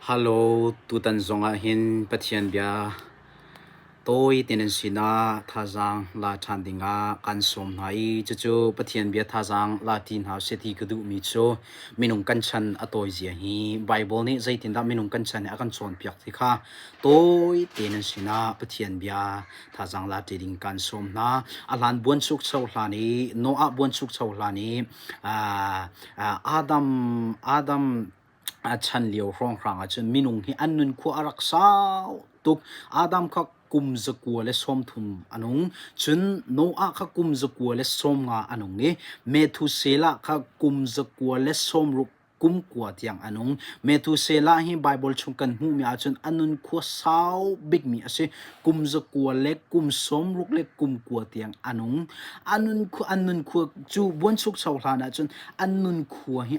Hallo, tutan zongah hin Pathian bia tawi te nan sinah thazaang la ṭhan dingah kan sawm hna i cucu Pathian bia thazaang la ti hna seh ti ka duhmi cu minung kan chan a tawizia hi Baibal nih zeitindah minung kan chan hi a kan cawnpiak ti kha tawi te nan sinah Pathian bia thazaang la ṭi ding kan sawm hna. A hlan buanchukcho hlan i Noah buanchukcho hlan i Adam Adam a chan lio hrawnghrang ahcun minung hi an nunkhua a rak sau tuk. Adam kha kum zakua le sawmthum a nung. Cun Noah kha kum zakua le sawmnga a nung i Methuselah kha kum zakua le sawmruk kum kua tiang a nung. Methuselah hi Bible chung kan hmuhmi ahcun a nunkhua sau bikmi a si. Kum zakua le kum sawmruk le kum kua tiang a nung. A nunkhua, an nunkhua cu buanchuk sau hlan ahcun an nunkhua hi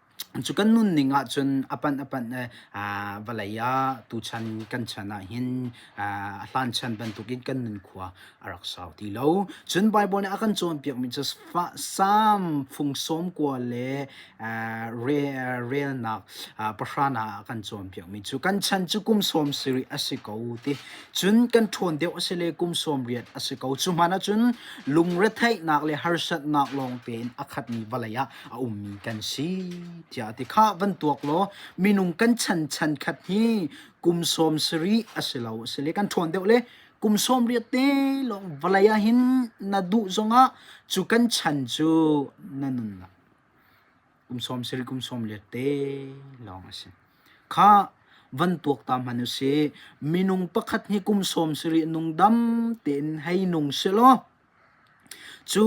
Cu kan nunning ahcun a panh a panh le aa vawlei ah tuchan kan chan ahhin aa a hlan chan bantukin kan nunkhua a rak sau ti lo. Cun Bible nih a kan cawnpiakmi cu fa- Salm fungsawm kua le aa re- aa relnak aa pahranak ah a kan cawnpiakmi cu kan chan cu kum sawm sarih a si ko ti. Cun kan ṭhawn deuh a si le kum sawm riat a si ko. Cu hmanh ahcun lungretheihnak le harsatnak lawng tein a khatmi vawlei ah a ummi kan si tiah a ti kha van tuak law minung kan chan chan khat hi kum sawm sarih a si lo a si le kan ṭhawn deuh le kum sawm riat te lawng vawlei ah hin na duh zongah cu kan chan cu na nun la kum sawm sarih kum sawm riat te lawng a si kha van tuak ta man u si minung pakhat hi kum sawm sarih nung dam tein hei nung si law Cu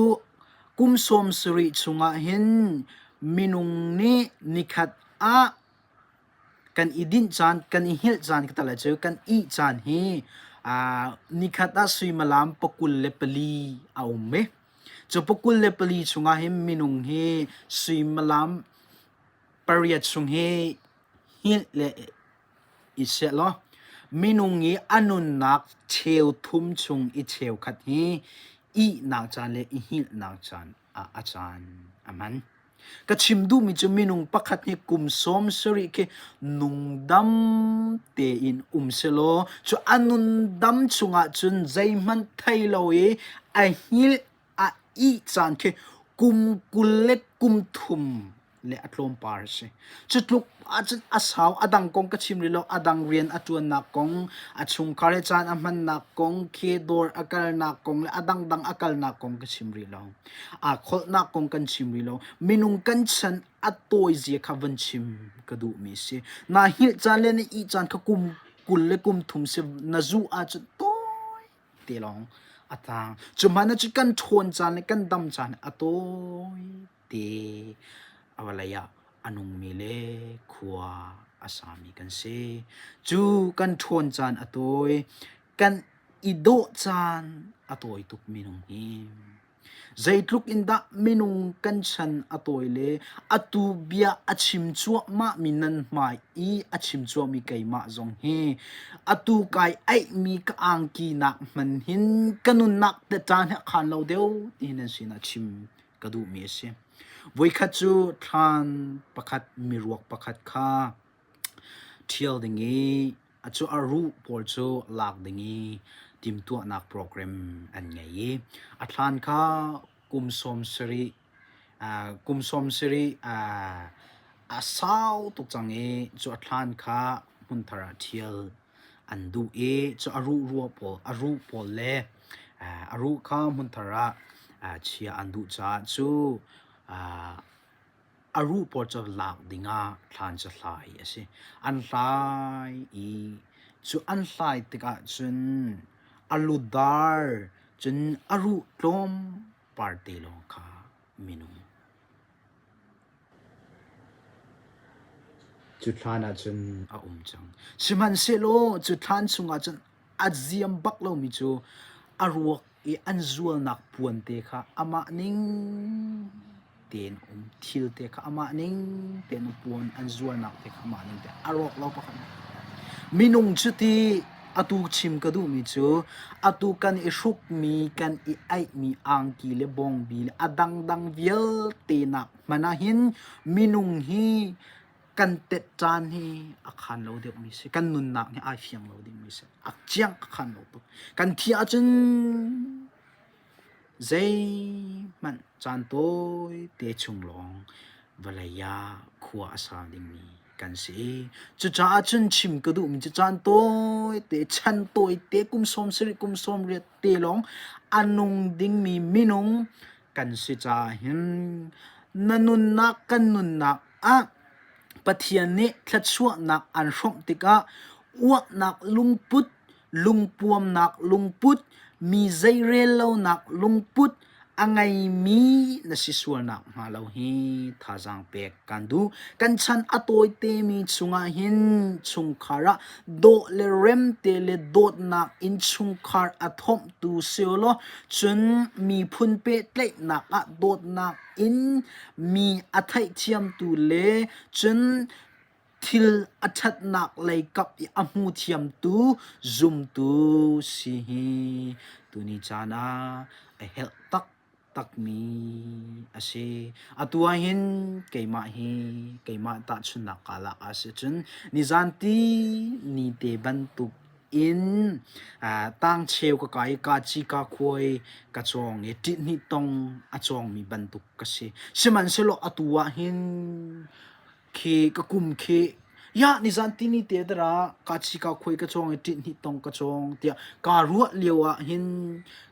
kum sawmsarih chungah hin minung nih nikhat ah kan i dinh caan, kan i hngilh caan ka tel ahcun kan ih caan hi aa nikhat ah suimilam pakul le pali a um i cu pakul le pali chungah hin minung hi suimilam pariat chung hi hngilh le i seh law minung i a nunnak cheu thum chung i cheukhat hi ihnak caan le i hngilhnak caan ah a caan a hman. Ka chim duhmi cu minung pakhat hi kum sawm sarih khi nungdam tein um sehlaw cu a nundam chungah cun zeihmanh thei lo i a hngilh a ih caan khi kum kul le kum thum le a tlawmpal a si. Cu tluk ahcun a sau a dang kong ka chim rih lo. A dang rian a ṭuannak kong, a chungkhar le caan a hmannak kong, khi dawr a kalnak kong le a dangdang a kalnak kong ka chim rih lo. Aa kholhnak kong kan chim rih lo. Minung kan chan a tawizia kha van chim ka duhmi a si. Naa hngilh caan le na ih caan kha kum kul le kum thum si na zuh ahcun tawi te lawng a tang. Cu hmanh cu kan ṭhawn caan le kan dam caan a tawi te. A vawlei ah a nungmi le khua a sami kan si. Cu kan ṭhawn caan a tawi. Kan i dawh caan a tawi tuk minung hi. Zeitluk in dah minung kan chan a tawi le atu bia a chim cuahmahmi nan hmai i a chim cuahmi keimah zong hi atu kai aihmi ka angkinak hman hin ka nunnak te caan he khan lo deuh ti nan sin a chim ka duhmi a si. Voikhat cu thlan pakhat miruak pakhat kha ṭhial ding i A cu a ruh pawl cu lak ding i timhtuahnak program an ngei i a thlaan kha kum sawm sarih uh, kum sawm sarih uh, a sau tuk cang i cu a thlaan kha hmun thar ah ṭhial an duh i cu a ruh ruah pawl a ruh pawl le uh, a ruh kha hmun thar ah uh, chiah an duh caah cu uh, A ruh pawl cu lak dingah thlan cu hlai a si. An hlai i cu an hlai tikah cun a lu dar cun a ruh tlawmpal te lawng kha minung cu thlan ah cun a um cang. Sihmanhsehlaw cu thlan chungah cun a ziam bak lomi cu a ruak i an zualnak puan te kha amah ning tein um thil te kha amah ning tein um puan an zualnak te kha amah ning tein a rawk lo pakhat nih minung cu ti atu chim ka duhmi cu atu kan i hrukmi kan i aihmi angki le bongbi le a dangdang vialte nak hmanh ah hin minung hi kan pet caan hi a khan lo deuh mi si kan nunnak hi ai fiang lo ding mi si a ciang a khan lo tuk kan thi ahcun zei hmanh caan tawi te chung lawng vawlei ah khua a sa ding mi kan si cucaah cun chim ka duh mi cu caan tawi te chan tawi te kum sawm sarih kum sawm riat te lawng a nung ding mi minung kan si ca hin na nunnak kan nunnak Pathian nih thluachuahnak an hrawmh tikah uaknak lungput, lungpuamnak lungput, mi zeirellonak lungput a ngeimi na si sual nakhnga lo hi thazaang pek kan duh. Kan chan a tawitemi chungah hin chungkhar ah dawh le remte le dawtnak in chungkhar a thawmhtu si u law cun miphun pehtlaihnak ah dawtnak in mi a theihthiamtu le cun thil a ṭhatnak lei kap i a hmu thiamtu zumtu si hi tuni caan ah a herh taktakmi a si. Atu ahhin keimah hi keimah tahchunhnak ka lak ah si cun nizan ti ni te bantuk in tang cheu ka kai ka ci ka khuai ka cawng i ṭih hnih tong a cawngmi bantuk ka si. Sihmanhsehlaw atu ah hin khi ka kum khi ya nizan tini te dara ka ci ka khuai ka cawng i ṭih hnih tong ka cawng tiah kaa ruah lio ah hin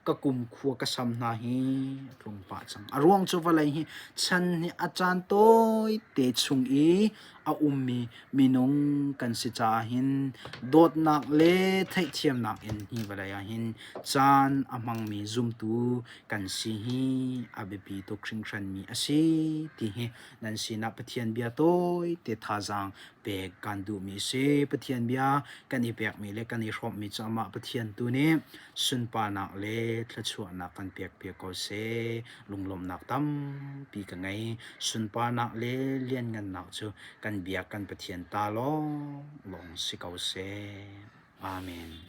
ka kum khua ka sam hna hi a tlung pah cang. A ruang cu vawlei hi chan hi a caan tawite chung i a ummi minung kan si caah hin dawtnak le theihthiamnak in hi vawlei ah hin caan a hmangmi zumtu kan si hi a biapi tuk hringhranmi a si ti hi nan sinah Pathian bia tawite thazaang pek kan duhmi a si. Pathian bia kan i pekmi le kan i hrawmmi cu amah Pathian tu nih sunparnak le thluachuahnak kan pekpiak ko seh. lunglawmhnak tampi ka ngei. Sunparnak le lianngannak cu kan Biak kan Pathian ta lawnglawng si ko seh. Amen.